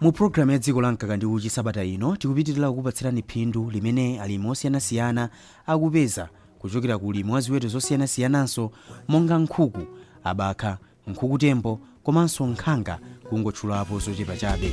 Mu programu ya Dziko la Mkaka ndi Uchi sabata ino, tikupitirira kukupatsirani phindu limene alimi osiyanasiyana akupeza kuchokera ku ulimi wa ziweto zosiyanasiyananso monga nkhuku, abakha, nkhukutembo komanso nkhanga kungotchulapo zochepa chabe.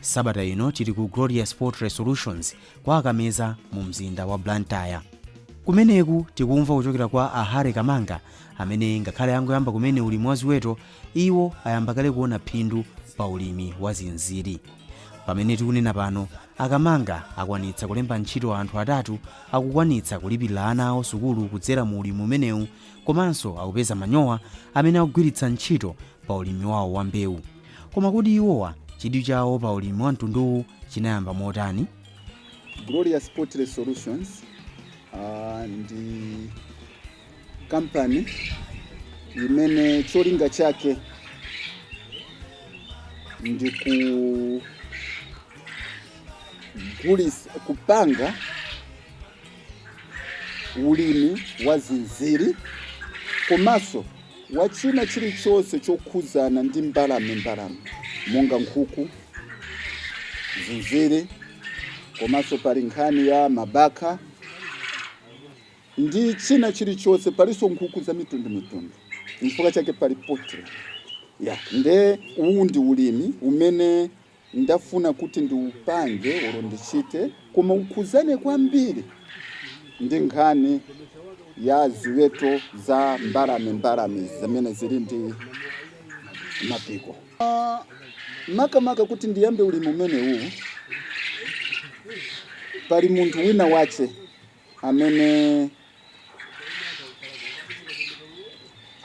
sabata ino tili ku glorious poultry solutions kwa kameza mu mzinda wa blantyre kumeneku tikumva kuchokera kwa a harry kamanga amene ngakhale angoyamba kumene ulimi wa ziweto iwo ayamba kale kuona phindu pa ulimi wa zinziri pamene tikunena pano a kamanga akwanitsa kulemba ntchito anthu atatu akukwanitsa kulipirira ana awo sukulu kudzera mu ulimi umenewu Komanso akupeza manyowa amene akugwiritsa ntchito pa ulimi wawo wa mbewu. Koma kodi iwowa chidwi chawo pa ulimi wa mtunduwu chinayamba motani? Glorious Poultry Solutions ah, ndi kampani imene cholinga chake ndi kupanga ulimi wa zinziri komanso wa china chilichonse chokhudzana ndi mbalame mbalame monga nkhuku zinziri komanso pali nkhani ya mabakha ndi china chilichonse palinso nkhuku za mitundu mitundu chifukwa chake pali poultry ah nde uwu ndi ulimi umene ndafuna kuti ndiupange olo ndichite koma ukhudzane kwambiri ndi nkhani ya ziweto za mbalame mbalame zimene zili ndi mapiko Ah, makamaka kuti ndiyambe ulimi umenewu pali munthu wina wache amene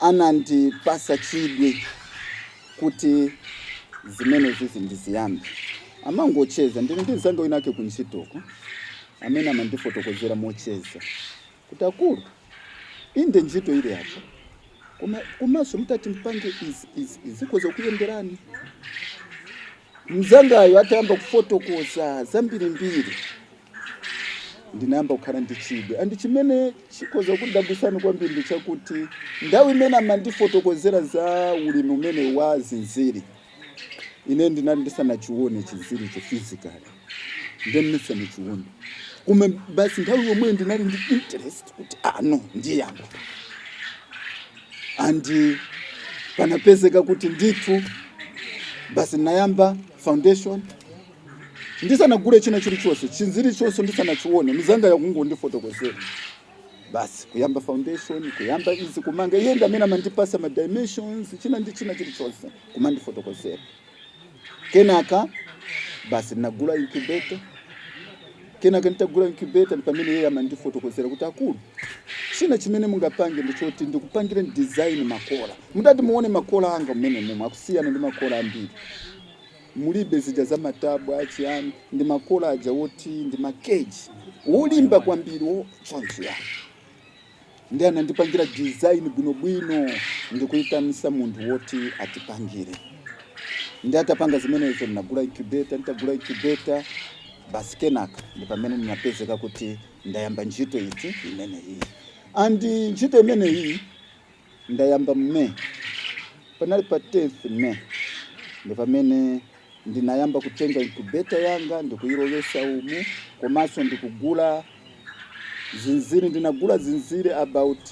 anandipasa chidwi kuti zimene zizi ndiziyambe amangocheza ndine ndi mzanga winake ku ntchitoko amene amandifotokozera mocheza kuti akulu inde ntchito ili apa koma komanso mutati mpange izi zikhoza kukuyenderani Mnzangayo atayamba kufotokoza zambirimbiri, ndinayamba kukhala ndi chidwi. And chimene chikhoza kukudabwitsani kwambiri ndi chakuti nthawi imene amandifotokozera za ulimi umenewu wa zinziri, ine ndinali ndisanachione chinziricho physically. ndisanachione koma basi nthawi yomweyo ndinali ndi interest kuti no ndiyamba andi panapezeka kuti ndithu basi nayamba foundation ndisanagule china chilichonse chinziri chonse ndisanachione mzanga akungondifotokozera basi kuyamba foundation kuyamba izi kumanga iye ndamene amandipatsa ma dimensions china ndi china chilichonse kumandifotokozera kenaka basi ndinagula incubator kenaka nditagula incubator ndi pamene iye amandifotokozera kuti akulu china chimene mungapange ndi choti ndikupangire design makola mukati muone makola anga mmene momwe akusiyana ndi makola ambiri mulibe zija za matabwa achiyani ndi makola aja woti ndi makeji wolimba kwambiri chonchi ya nde anandipangira design bwinobwino ndikuitanisa munthu woti atipangire nde atapanga zimenezo ndinagula incubator nditagula incubator basi kenaka ndi pamene ndinapezeka kuti ndayamba ntchito iti imeneyi and ntchito imeneyi Ndayamba m'May. Panali pa 10th May ndi pamene ndinayamba kutenga incubator yanga ndikuyilowesa umu komanso ndikugula zinziri. Ndinagula zinziri about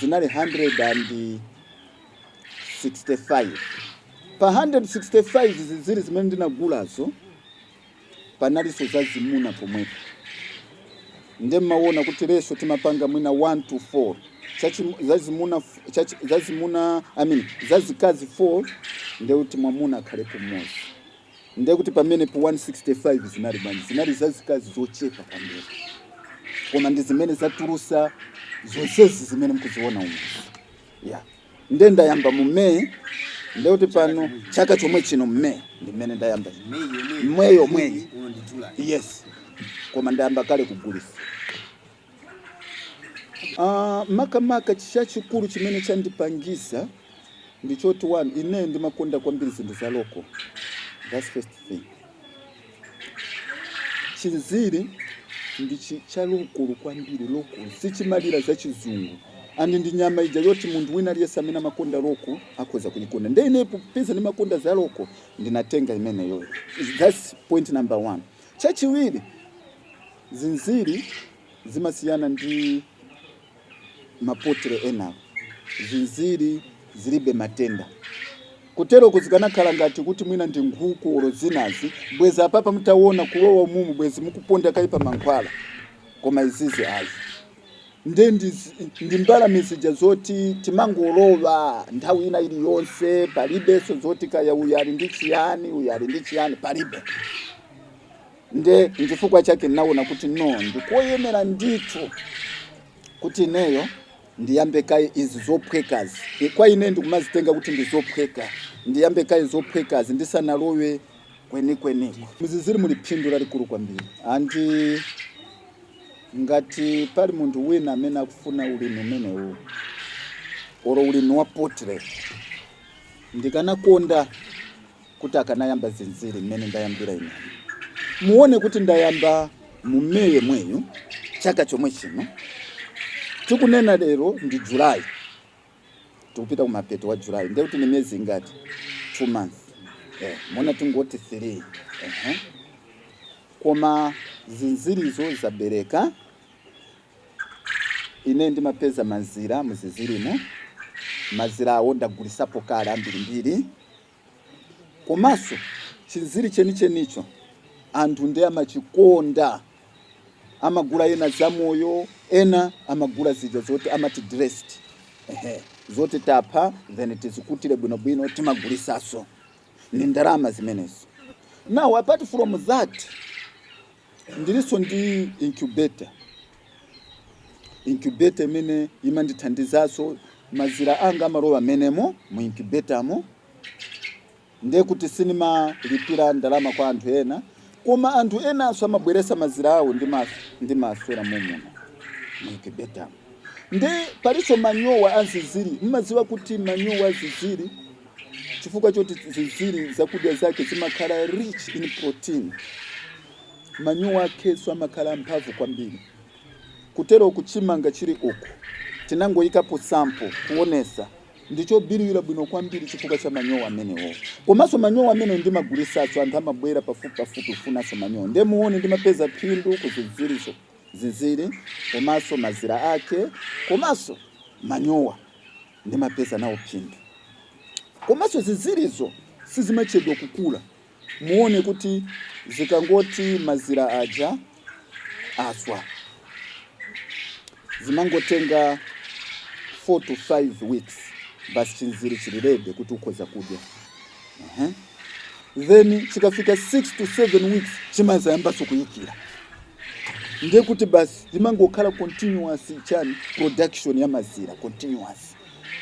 zinali 165. Pa 165 zinziri zimene ndinagulazo. panalinso zazimuna pomwepo nde mumaona kuti ratio timapanga mwina 1 to 4 chachi- zazimuna f- chachi- zazimuna I mean, zazikazi 4 nde kuti mwamuna akhalepo mmodzi nde kuti pamenepo pa 165 zinali bwanji zinali zazikazi zochepa kwambiri koma ndi zimene zatulusa zonsezi zimene mkuziona umu yeah. nde ndayamba mu may nde kuti pano chaka chomwe chino mu may ndi mmene ndayamba May yomweyi yes koma ndayamba kale kugulisa Ah, makamaka chachikulu chimene chandipangisa ndi choti one ine ndimakonda kwambiri zinthu za local that's first thing chinziri ndi chi- cha local kwambiri local sichimalira za chizungu and ndi nyama ija yoti munthu wina aliyense amene amakonda local akhoza kuyikonda nde ine popeza ndimakonda za local ndinatenga imeneyoyo thats point number one chachiwiri zinziri zimasiyana ndi ma poultry enawa, zinziri zilibe matenda. Kuteroku zikanakhala ngati kuti mwina ndi nkhuku or zinazi, bwezi apapa mutawona kulowa mumu bwezi mukuponda kaye pa mankhwala, koma izizi ayi. Nde ndi mbalame zija zoti timangolowa nthawi ina iliyonse, palibenso zoti kaya uyu ali ndi chiyani, uyu ali ndi chiyani, palibe. Nde nchifukwa chake ndinaona kuti no, ndikoyenera ndithu kuti ineyo ndiyambe kaye izi zophwekazi. E, Kwa ine ndikumazitenga kuti ndi zophweka, ndiyambe kaye zophwekazi ndisanalowe kwenikweniko. Muzinziri muli phindu lalikulu kwambiri andi ngati pali munthu wina amene akufuna ulimi umenewu oro ulimi wa poultry ndikanakonda kuti akanayamba zinziri mmene ndayambira ine. Muone kuti ndayamba mu May yemweyu chaka chomwe chino tikunena lero ndi July, tikupita kumapeto wa July, ndiye kuti ni miyezi ingati? Two months eh, mwina tingoti three. Koma zinzirizo zabereka, ine ndimapeza mazira muzinzirimo, mazirawo ndagulisapo kale ambirimbiri. Komanso chinziri chenichenicho anthu ndiye amachikonda, amagula ena zamoyo, ena amagula zija zoti amati dressed, ehe, zoti tapha then tizikutire bwinobwino timagulisaso, ndi ndalama zimenezo. Now apart from that, Ndilinso ndi incubator. Incubator imene imandithandizanso, mazira anga amalowa mmenemo mu incubator mo, ndiye kuti sindimalipira ndalama kwa anthu ena. Koma anthu enanso amabweretsa mazira awo ndimaswera mommuno mu incubator mo. Ndiye palinso manyowa a zinziri. Mumadziwa kuti manyowa a zinziri. chifukwa choti zinziri zakudya zake zimakhala rich in protein manyowa akenso amakhala amphamvu kwambiri kuti mwina chimanga chili uku tinangoyikapo sample kuonesa ndichobiriwira bwino kwambiri chifukwa cha manyowa amenewo komanso manyowa amene ndimagulisaso anthu amabwera pafupi pafupi kufunaso manyowa ndiye muone ndimapeza phindu ku zinzirizo zinziri komanso mazira ake komanso manyowa Ndimapeza nawo phindu. Komanso zinzirizo sizimachedwa kukula. Muone kuti zikangoti mazira aja aswa, zimangotenga 4 to 5 weeks basi chinziri chili ready kuti ukhoza kudya. uh-huh. then chikafika 6 to 7 weeks chimadzayambanso kuyikira ndiye kuti basi zimangokhala continuous chani production ya mazira continuous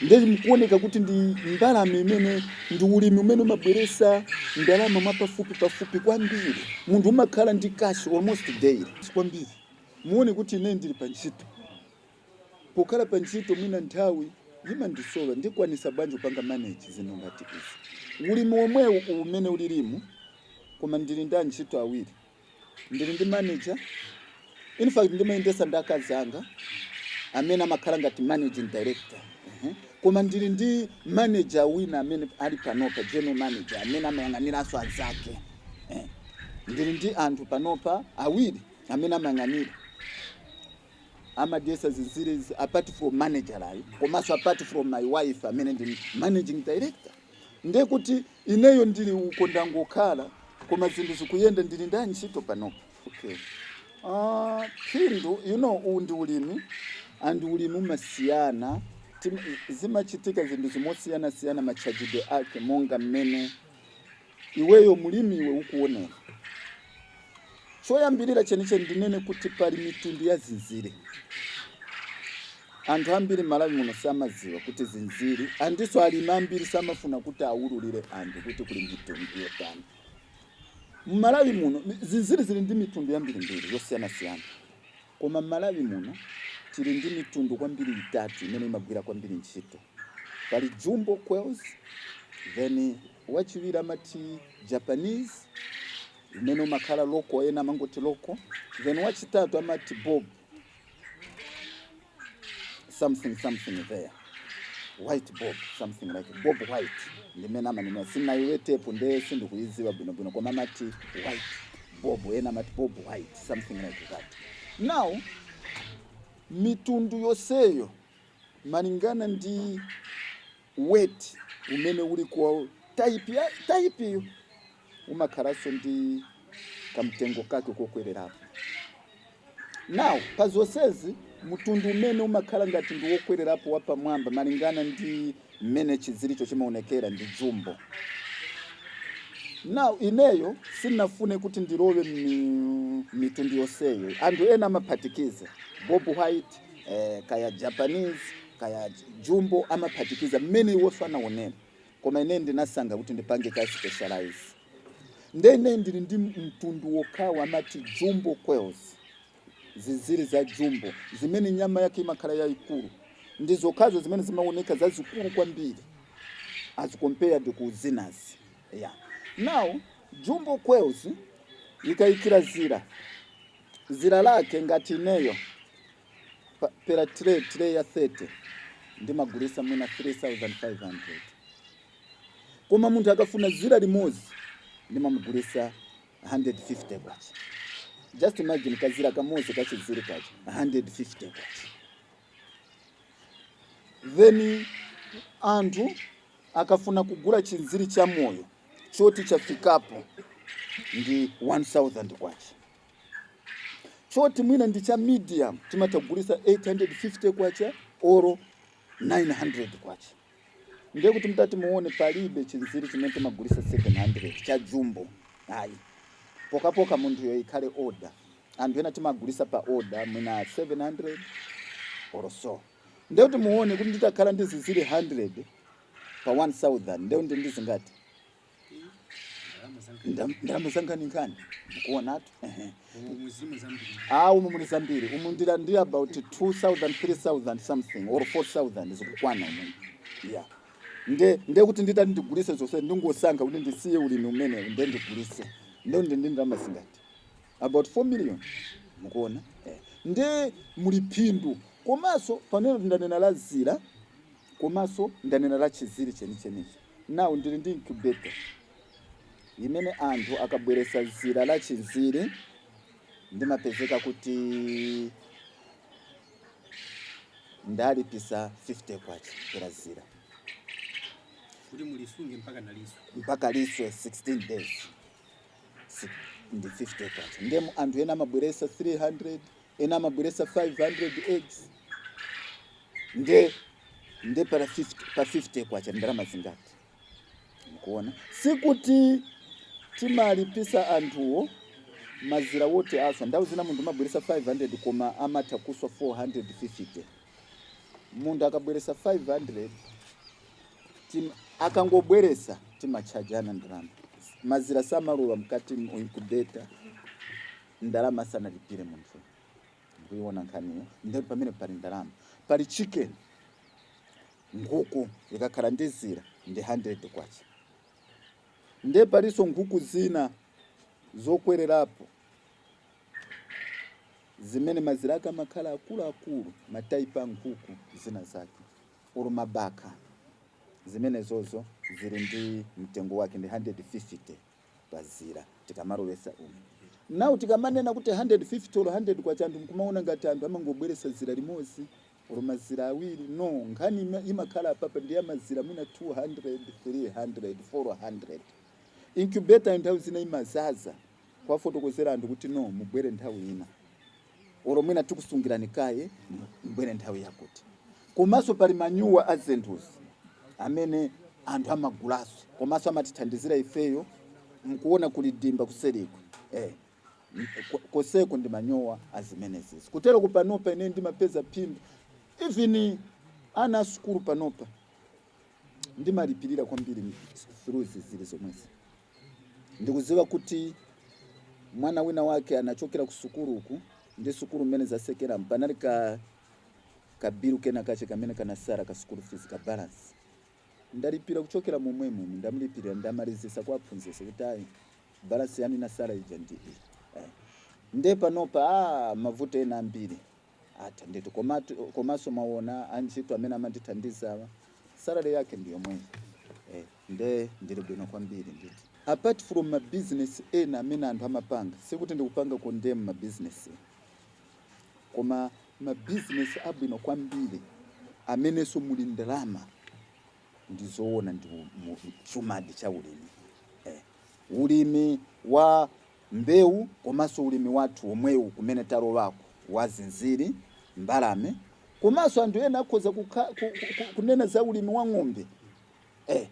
ndiye mkuoneka kuti ndi mbalame imene ndi ulimi umene umabweresa ndalama mwapafupi pafupi kwambiri munthu umakhala ndi cash almost daily kwambiri muone kuti ine ndili pa ntchito Pokhala pa ntchito mwina nthawi imandisowa ndikwanisa bwanji kupanga manage zinthu ngati izi? Ulimi womwewu uwu mmene ulilimu koma ndili ndi antchito awiri, ndili ndi manager infact ndimayendesa ndi akazi anga amene amakhala ngati managing director ehe koma ndili ndi manager wina amene ali panopa general manager amene amayang'aniranso anzake eh ndili ndi anthu panopa awiri amene amayang'anira amadyesa zinziri apart from managerayu komanso apart from my wife amene ndi managing director ndiye kuti ineyo ndili uko ndangokhala koma zinthu zikuyenda ndili ndi antchito panopa okay. uh, phindu you know uwu ndi ulimi and ulimi umasiyana Tim- zimachitika zinthu zimasiyanasiyana matchajidwe ake monga mmene Iweyo mlimi iwe ukuonera. Choyambirira chenicheni ndinene kuti pali mitundu ya zinziri. Anthu ambiri m'Malawi muno samadziwa kuti zinziri andinso alimi ambiri samafuna kuti awululire anthu kuti kuli mitundu yotani. M'Malawi muno mi- zinziri zili ndi mitundu yambirimbiri yosiyanasiyana, koma m'Malawi muno tili ndi mitundu kwambiri itatu imene imagwira kwambiri ntchito. Pali jumbo quails, then wachiwiri amati Japanese umene umakhala local ena amangoti local then wachitatu amati bob something something there white bob something like bob white ndimene amanena sinayiwetepo nde sindikuyiziwa bwinobwino koma amati white bob ena amati bob white something like that now mitundu yoseyo malingana ndi weight umene uli kwa tayipi ya tayipiyo umakhalanso ndi kamtengo kake kokwererapo. Now pa zonsezi mtundu umene umakhala ngati ndi wokwererapo wapamwamba malingana ndi mmene chinziricho chimaonekera ndi jumbo. Now ineyo sinafune kuti ndilowe mi- mitundu yonseyo, anthu ena amaphatikiza bob white eh, kaya japanese kaya jumbo amaphatikiza mmene iwonso anaonera koma ine ndinasankha kuti ndipange ka specialize nde ine ndili ndi mtundu wokhawo amati jumbo quails zinziri za jumbo zimene nyama yake imakhala yayikulu ndi zokhazo zimene zimaoneka zazikulu kwambiri as compared ku zinazi yeah. now jumbo quails ikayikira dzira dzira lake ngati ineyo pa, pera tray ya 30 ndimagulisa mwina 3500 koma munthu akafuna zira limozi ndimamugulisa 150 kwacha just imagine kazira kamozi ka chinziri kake 150 kwacha then munthu akafuna kugula chinziri cha moyo choti chafikapo ndi 1000 kwacha choti mwina ndi cha medium timatha kugulisa 850 kwacha oro 900 kwacha ndiye kuti mtati muone palibe chinziri chimene timagulisa 700 cha jumbo ayi pokhapokha munthuyo ikhale order anthu ena timagulisa pa order mwina 700 or so ndiye kuti muone kuti nditakhala ndi zinziri 100 pa 1000 ndiye kuti ndi zingati Ndam- ndalama zankhaninkhani mukuonatu ehe. Ah, umu muli zambiri umu ndili ndi about 2000 3000 something or 4000 zikukwana umu yeah nde nde kuti nditati ndigulise zonse ndingosankha kuti ndisiye ulimi umenewu nde ndigulise nde ndi ndi ndalama zingati about 4 million mukuona eh. nde muli phindu komanso pamene ndanena la zira komanso ndanena la chinziri chenichenichi Now ndili ndi incubator imene anthu akabweresa zira la chinziri ndimapezeka kuti ndalipisa K50 pera zira. Kuti mulisunge mpaka liswe. Mpaka liswe 16 days. Ndi K50. Ndiye anthu ena amabweresa 300, ena amabweresa 500 eggs nde nde para 50, pa 50 kwacha ndalama zingati mukuona sikuti timalipisa anthuwo mazira oti aswa nthawi zina munthu amabweresa 500 koma amatha kuswa 450 munthu akabweresa 500 tim, akangobweresa timachajana ndalama mazira samalowa mkati mu incubator ndalama sanalipire munthu kuiona nkhaniyo nde pamene pali ndalama pali chicken nkhuku likakhala ndi zira ndi 100 kwacha nde palinso nkhuku zina zokwererapo zimene mazira ake amakhala akuluakulu mataipi a nkhuku zina zake ulu mabaka zimenezozo zili ndi mtengo wake ndi 150 pazira tikamalowesa umu now tikamanena kuti 150 olo 100 kwacha anthu nkumaona ngati anthu amangobweresa zira limozi olo mazira awiri no nkhani ima- imakhala apapa ndi yamazira mwina 200 300 400 incubator nthawi zina imazaza kuwafotokozera anthu kuti no mubwere nthawi ina olo mwina tikusungirani kaye mbwere nthawi yakuti komanso pali manyowa a zinthuzi amene anthu amagulaso komanso amatithandizira ifeyo mkuona kuli dimba kuseriku eh, koseko ndi manyowa azimenezezi kutero kupanopa ine ndimapeza phindu even ana a sukulu panopa ndimalipirira kwambiri through zinziri zomwezi Ndikudziwa kuti mwana wina wake anachokera ku sukulu uku, ndi sukulu mmene zatsekeramu, panali ka, ka bilu kenakake kamene kanatsala ka sukulu fizi, ka balansi. Ndalipira kuchokera momwemu, ndamlipirira, ndamalizitsa kwa aphunzitsi kuti ayi, balansi yanu inatsala ija ndi iyi. Eh. Ndiye panopa, ah, mavuto ena ambiri. Atha ndithu komanso mwaona antchito amene amandithandizawa salary yake ndi yomweyi eh, nde ndili bwino kwambiri ndithu apart from ma business ena amene anthu amapanga sikuti ndikupanga condemn ma business koma ma business abwino kwambiri amenenso muli ndalama ndi zoona ndi u- mu- chuma di cha ulimi eh, ulimi wa mbewu komanso ulimi wathu omwewu kumene talowaku wa zinziri, mbalame komanso anthu ena akhoza kukha, ku, ku, ku, kunena za ulimi wa ng'ombe eh,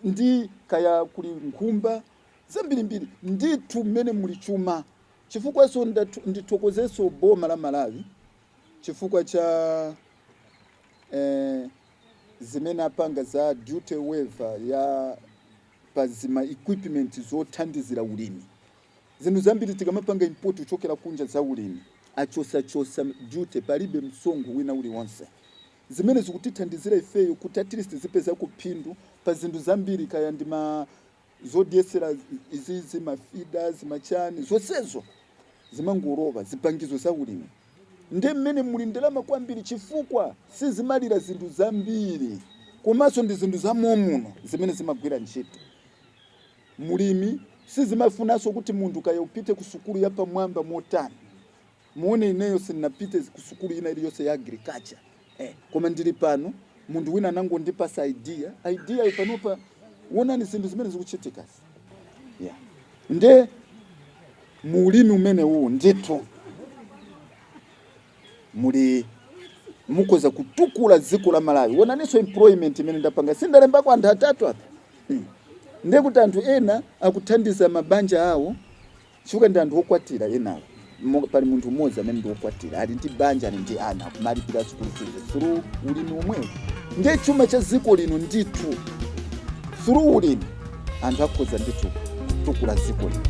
ndi kaya kuli nkhumba zambirimbiri ndithu mmene muli chuma chifukwanso ndatu- ndithokozenso boma la malawi chifukwa cha eh, zimene apanga za duty waiver ya pa zima equipment zothandizira ulimi. Zinthu zambiri tikamapanga import kuchokera kunja za ulimi, achotsachotsa duty, palibe msonkho wina uliwonse. Zimenezi zikutithandizira ifeyo kuti at least tizipezako phindu pa zinthu zambiri, kaya ndi ma zodyetsera izizi, ma feeders, ma chani, zonsezo zimangolowa, zipangizo za ulimi. Nde mmene muli ndalama kwambiri chifukwa sizimalira zinthu zambiri komanso ndi zinthu za momuno zimene zimagwira ntchito. Mu ulimi sizimafunanso kuti munthu kaya upite ku sukulu ya pamwamba motani. Muone ineyo sindinapite ku sukulu ina iliyonse ya agriculture. eh, koma ndili pano munthu wina anangondipatsa idea idea yo panopa onani zinthu zimene zikuchitikazi yeah. nde muulimi umenewu ndithu muli mukoza kutukula dziko la malawi onaninso employment imene ndapanga sindalembako anthu atatu apa hmm. ndekuti anthu ena akuthandiza mabanja awo Chifukwa ndi anthu okwatira enawo. Pali munthu mmodzi amene ndi okwatira, ali ndi banja, ali ndi ana, kumalipira sukulu fees through ulimi omwewu. Ndiye chuma cha dziko lino ndithu through ulimi anthu akhoza ndithu kutukula dziko lino.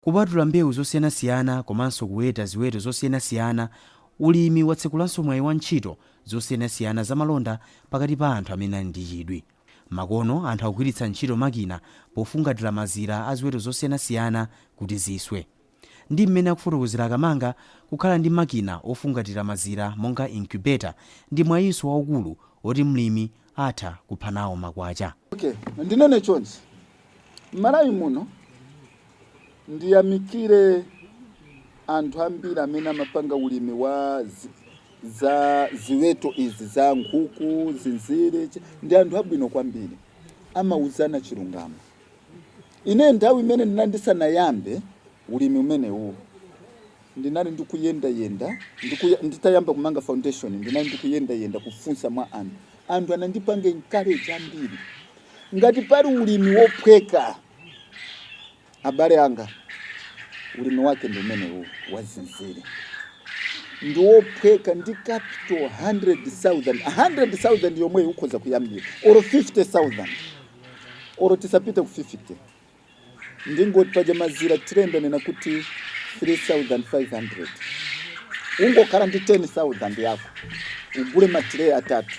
Kupatula mbewu zosiyanasiyana komanso kuweta ziweto zosiyanasiyana, ulimi watsekulanso mwayi wa ntchito zosiyanasiyana za malonda pakati pa anthu amene ali ndi chidwi. Makono, anthu akugwiritsa ntchito makina pofungatira mazira a ziweto zosiyanasiyana kuti ziswe. Ndi mmene akufotokozera Kamanga, kukhala ndi makina ofungatira mazira monga incubator ndi mwayinso waukulu oti mlimi atha kupha nawo makwacha. Ok ndinene chonchi mmalawi muno ndiyamikire anthu ambiri amene amapanga ulimi wa za ziweto izi za nkhuku, zinziri ndi anthu abwino kwambiri amauzana chilungamo ine nthawi imene ndinandisanayambe ulimi umenewuwu Ndinali ndikuyendayenda, nditayamba kumanga foundation, ndinali ndikuyendayenda kufunsa mwa anthu. Anthu anandipanga encourage ambiri. Ngati pali ulimi wophweka, abale anga, ulimi wake ndi umene wa zinziri. Ndi wophweka ndi capital 100,000. 100,000 yomweyo ukhoza kuyambira, or 50,000, or tisapite ku 50. ndingoti paja mazira tray ndanena kuti 3500 ungokhala ndi 10000 yako ugule matireyi atatu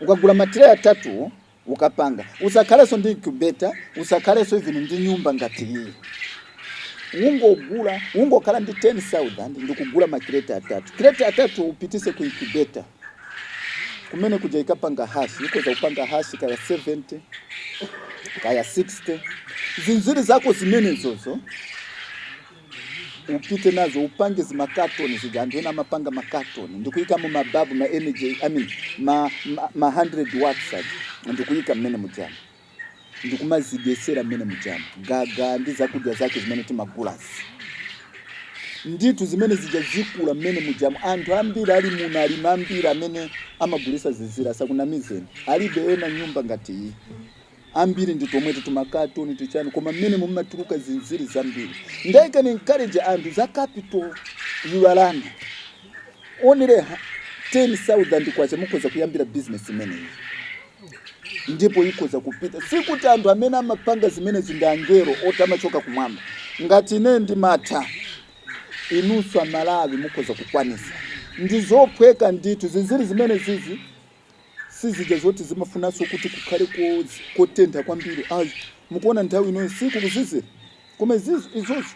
ukagula matireyi atatu ukapanga usakhalenso ndi incubator usakhalenso even ndi nyumba ngati iyi ungogula ungokhala ndi 10000 ndikugula makireti atatu kireti atatu upitise ku incubator kumene kuja ikapanga hatch ikoza kupanga hatch kaya 70 kaya 60 zinziri zako zimenezozo upite nazo upange zimakatoni zija anthu ena amapanga makatoni ndikuyikamo mababu ma energy I mean, ma, ma, ma 100 watts aja ndikuyika mmene mujamu ndikumazidyetsera mmene mujamu, gaga ndi zakudya zake zimene timagulazi. Ndithu zimene zija zikula mmene mujamu. Anthu ambiri ali muno, alimi ambiri amene amagulitsa zinziri, asakunamizeni, alibe ena nyumba ngati iyi. Ambiri ndi tomweti tumakatoni tichani, koma mmene mumatuluka zinziri zambiri. Ndiye I can encourage anthu za capital iwalani only ha- 10,000 kwacha mukhoza kuyambira business imeneyi. ndipo ikoza kupita. Sikuti anthu amene amapanga zimenezi ndi angelo oti amachoka kumwamba. Ngati ine ndimatha, inunso Amalawi mukoza kukwanisa. Ndi zophweka ndithu, zinziri zimene zizi sizija zoti zimafunanso kuti kukhale ko- kotentha kwambiri. Ayi, mukuona nthawi inoyi si kukuzizira, koma izizi izozi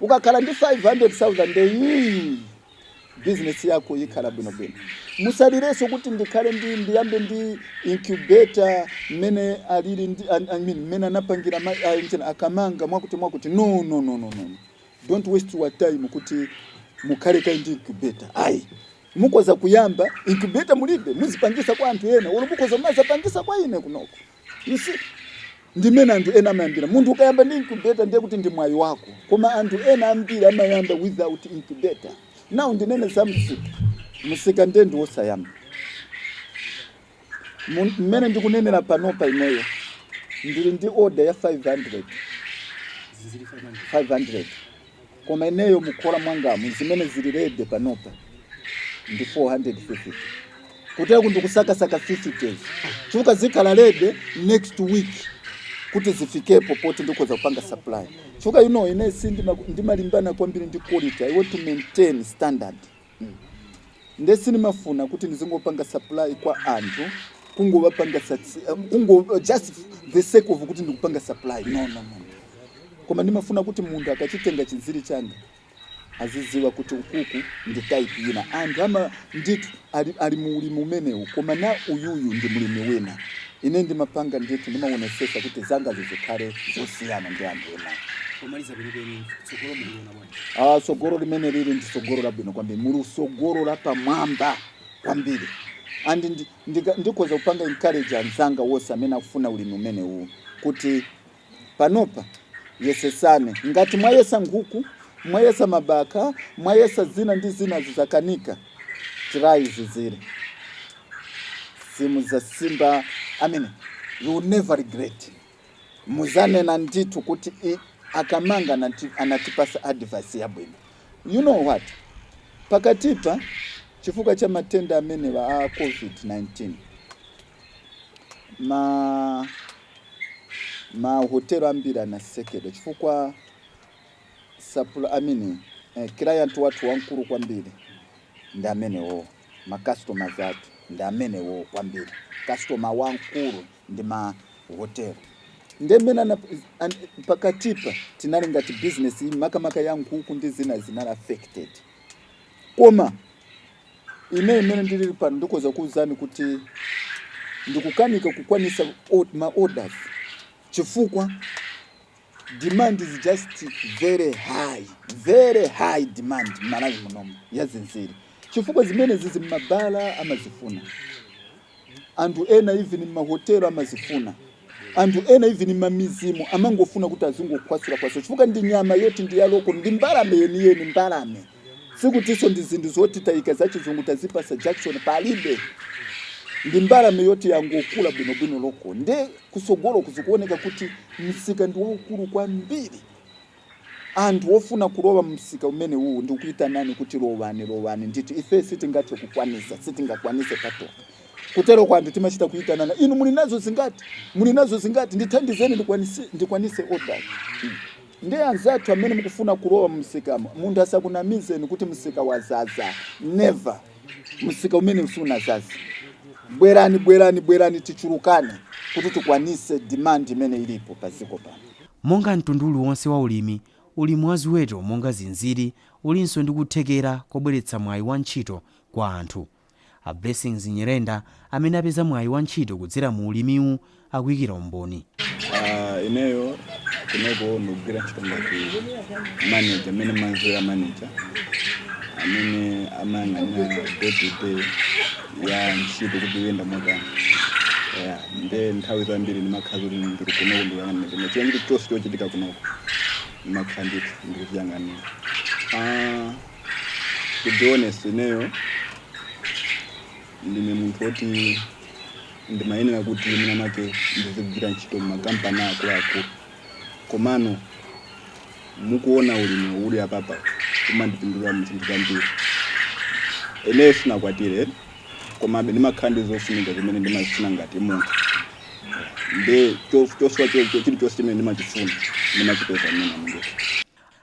Ukakhala ndi 500,000 nde iyiyi business yako ikhala bwino bwino. Musalireso kuti ndikhale ndi ndiyambe ndi incubator mmene alili ndi I mean mmene anapangira ma engine a Kamanga mwakuti mwakuti no no no no no. Don't waste your time kuti mukhale kaye ndi incubator. Ayi. Mukoza kuyamba incubator mulibe muzipangisa kwa anthu ena. Olo mukoza kumazapangisa kwa ine kunoko. You see? Ndi mmene anthu ena amayambira. Munthu ukayamba ndi incubator ndiye kuti ndi mwayi wako. Koma anthu ena ambiri amayamba without incubator. Now ndinene za msika. Msika ndiye ndiwosayamba. Mu- Mmene ndikunenera panopa ineyo ndili ndi order ya 500 500 Koma ineyo mukhola mwangamu zimene zili ready panopa ndi 450 kutere kuti ndikusakasaka 50 chifukwa zikhala ready next week kuti zifikepo poti ndikoza kupanga supply chifukwa you know ine si ndimalimbana kwambiri ndi quality i want to maintain standard. Nde sindimafuna kuti ndizingopanga supply kwa anthu kungowapangira kungo just the sake of kuti ndikupanga supply no, no, no. Koma ndimafuna kuti munthu akachitenga chinziri changa aziziwa kuti ukuku ndi type ina anthu ama ndithu ali, ali mu ulimi umenewu koma na uyuyu ndi mlimi wina ine ndimapanga ndithu ndimaonesesa kuti zanga zizikhale zosiyana ndi anthu ena Pomaliza kwenikweni tsogolo mukuliona bwanji? Ah, tsogolo limene lili ndi tsogolo labwino kwambiri muli tsogolo lapamwamba kwambiri and ndi- ndika- ndikhoza kupanga encourage anzanga wonse amene akufuna ulimi umenewu kuti panopa yesesani ngati mwayesa nkhuku mwayesa mabakha mwayesa zina ndi zina zizakanika try zinziri mudzasimba i mean you will never regret muzanena ndithu kuti ii a Kamanga anati anatipasa advice yabwino you know what pakatipa chifukwa cha matenda amenewa a covid 19 ma ma hotel ambiri anasekedwa chifukwa sapula I mean eh, client wathu wamkulu kwambiri ndi amenewo ma customers athu ndi amenewo kwambiri customer wamkulu ndi ma hotel. Nde mmene pakatipa tinali, ngati business makamaka ya nkhuku ndi zina zinali affected. Koma ine mmene ndilili pano ndikhoza kukuwuzani kuti ndikukanika kukwanisa ma orders chifukwa. demand is just very high very high demand m'Malawi munomu ya zinziri chifukwa zimenezizi mmabala amazifuna anthu ena even mmahotelo amazifuna anthu ena even mmidzimu amangofuna kuti azingokhwasula kwaso chifukwa ndi nyama yoti ndi yaloko ndi mbalame yeniyeni mbalame Sikutiso ndi zinthu zoti taika za chizungu tazipasa jakisoni palibe. Ndi mbalame yoti yangokula bwinobwino loko nde kusogoloku zikuoneka kuti msika ndi waukulu kwambiri. Anthu ofuna kulowa mumsika umenewuwu ndikukuitanani kuti lowani, lowani ndithu. Ife sitingathe kukwanisa, sitingakwanise patokha. Kuteroko anthu timachita kuitanana, inu muli nazo zingati? Muli nazo zingati? Ndithandizeni ndikwanise, ndikwanise order. Nde anzathu amene mukufuna kulowa mumsikamo munthu asakunamizeni kuti msika wazaza never msika umenewu sunazaza bwerani bwerani bwerani tichulukane kuti tikwanise demand imene ilipo pa dziko pano. Monga mtundu uliwonse wa ulimi, ulimi wa ziweto monga zinziri ulinso ndi kuthekera kobweretsa mwayi wa ntchito kwa anthu. A Blessings Nyirenda amene apeza mwayi wa ntchito kudzera mu ulimiwu akuyikira umboni. Ah, ineyo kunoko ndikugwira ntchito ngati manager amene manzera manager amene amayang'anira day to day ya ntchito kuti iyenda motani ya nde nthawi zambiri ndimakhala kuti ndiri kunoko ndikuyang'anira chinthu chonse chochitika kunoko ndimakhala ndithu ndikuchiyang'anira Ah, to be honest ineyo ndine munthu woti ndimayenera kuti mwina make ndizigwira ntchito m'makampani akuluakulu komano mukuona ulimi uli apapa kumandipindulira mu zinthu zambiri ineyo sinakwatire komabe ndimakhala ndi zofunika zimene ndimazifuna ngati munthu nde chosowa chilichonse chimene ndimachifuna ndimachipeza mmene mundithu